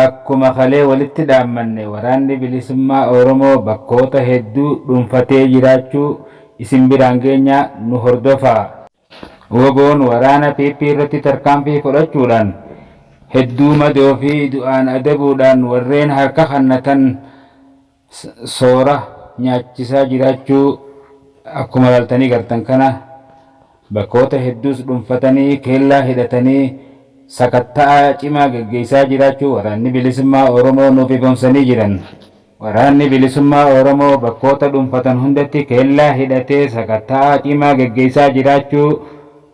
Akkuma kalee walitti dhaammanne Waraanni Bilisummaa Oromoo bakkoota hedduu dhunfatee jiraachuu isin biraan geenya nu hordofaa. Wbo'n waraana PP irratti tarkaanfii fudhachuudhaan hedduu madoo fi du'aan adabuudhaan warreen harka kannatan, soora nyaachisaa jiraachuu akkuma ilaaltanii gartan kana bakkoota hedduus dhunfatanii keellaa hidhatanii sakatta'a cimaa geggeessaa jiraachuu Waraanni Bilisummaa Oromoo nuuf ifoomsanii jiran. Waraanni Bilisummaa Oromoo bakkoota dhunfatan hundatti keellaa hidhatee sakatta'a cimaa geggeessaa jiraachuu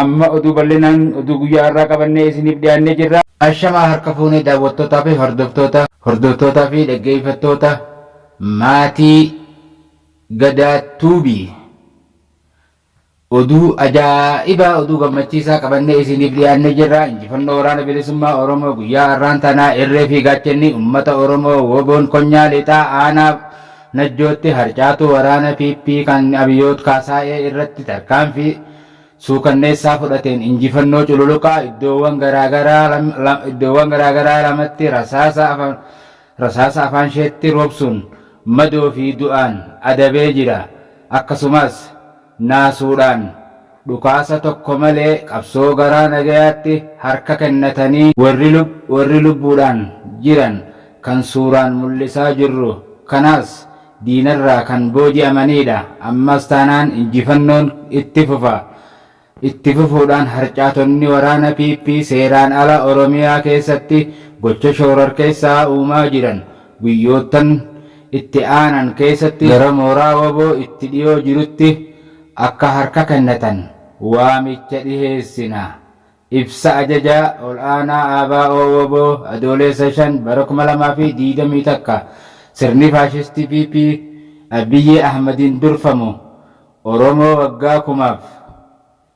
Amma oduu bal'inaan oduu guyyaa har'aa qabannee isiniif dhiyaannee jirra. Ashamaa harka fuunee daawwattootaa fi hordoftoota, hordoftootaa fi dhaggeeffattoota maatii Gadaa Tuubii. Oduu ajaa'ibaa, oduu gammachiisaa qabannee isiniif dhiyaannee jirra. Injifannoo Waraana Bilisummaa Oromoo guyyaa har'aan tanaa irree fi gaachanni uummata Oromoo Woboon Konyaa Lixaa Aanaa Najjootti harcaatuu waraana PP kan Abiyoot Kaasaayee irratti tarkaanfii suukanneessaa fudhateen injifannoo cululuqaa iddoowwan garaagaraa lamatti rasaasa afaansheetti roobsuun madoo fi du'aan adabee jira. Akkasumas. naasuudhaan dhukaasa tokko malee qabsoo garaa nagayaatti harka kennatanii warri lubbuudhaan jiran kan suuraan mul'isaa jirru kanaas diinarraa kan booji'amaniidha. Ammas taanaan injifannoon itti fufa. Itti fufuudhaan harcaatonni waraana PP seeraan ala Oromiyaa keessatti gocha shoorarkeessaa uumaa jiran guyyoottan itti aanan keessatti gara mooraa wbo itti dhiyoo jirutti akka harka kennatan waamicha dhiheessina Ibsa Ajajaa Ol'aanaa ABO wbo Adooleessa 5 bara 2021 Sirni faashistii PP Abiy Ahmadiin durfamu Oromoo waggaa kumaaf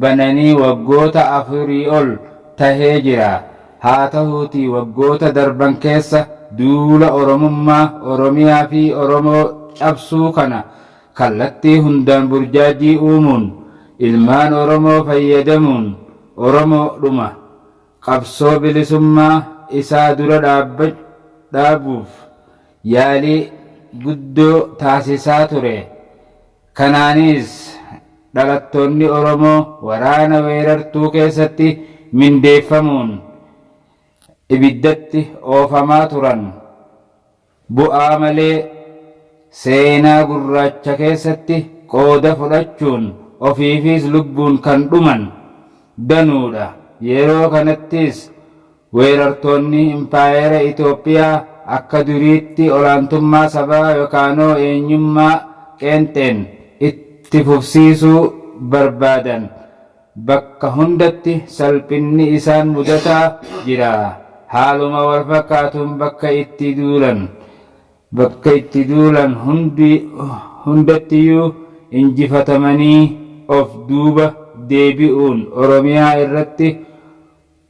bananii waggoota afurii ol tahee jira. Haa tahuutii waggoota darban keessa duula Oromummaa, Oromiyaa fi Oromoo cabsuu kana kallattii hundaan burjaajjii uumuun ilmaan Oromoo fayyadamuun Oromoo dhuma qabsoo bilisummaa isaa dura dhaabuuf yaalii guddoo taasisaa ture. Kanaanis, dhalattoonni Oromoo waraana weerartuu keessatti mindeeffamuun ibiddatti oofamaa turan bu'aa malee seenaa gurraacha keessatti qooda fudhachuun ofiifiis lubbuun kan dhuman danuudha. Yeroo kanattis Weerartoonni Impaayera Itoophiyaa akka duriitti olaantummaa sabaa yokaanoo eenyummaa qeenxeen itti fufsiisuu barbaadan bakka hundatti salphinni isaan mudataa jira. Haaluma walfakkaatuun bakka itti duulan bakka itti duulan hundattiyuu injifatamanii of duuba deebi'uun Oromiyaa irratti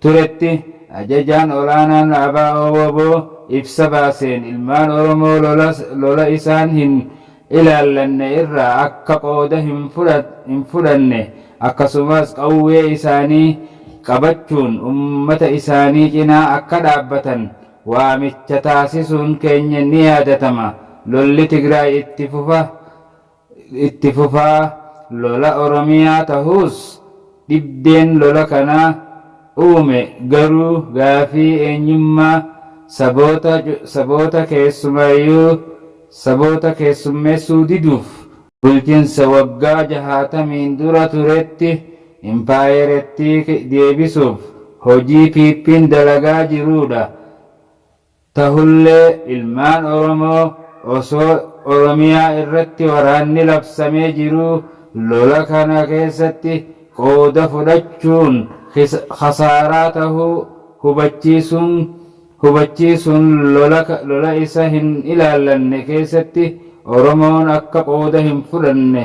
turetti Ajajaan Olaanaan Abo-wbo ibsa baaseen ilmaan Oromoo lola isaan hin ilaallanne irraa akka qooda hin fudhanne akkasumas qawwee isaanii qabachuun ummata isaanii cinaa akka dhaabbatan waamicha taasisuun keenya ni yaadatama. Lolli Tigraay itti fufa itti fufaa lola Oromiyaa tahuus dhibdeen lola kana uume garuu gaafii eenyummaa saboota saboota keessumaayuu saboota keessummeessuu diduuf bulchinsa waggaa jahaatamiin dura turetti impaayerettii deebisuuf hojii PPn dalagaa jiruudha. Tahullee ilmaan Oromoo osoo Oromiyaa irratti waraanni labsamee jiruu lola kana keessatti qooda fudhachuun khasaaraa tahuu hubachiisuun hubachiisuun lola lola isa hin ilaallanne keessatti Oromoon akka qooda hin fudhanne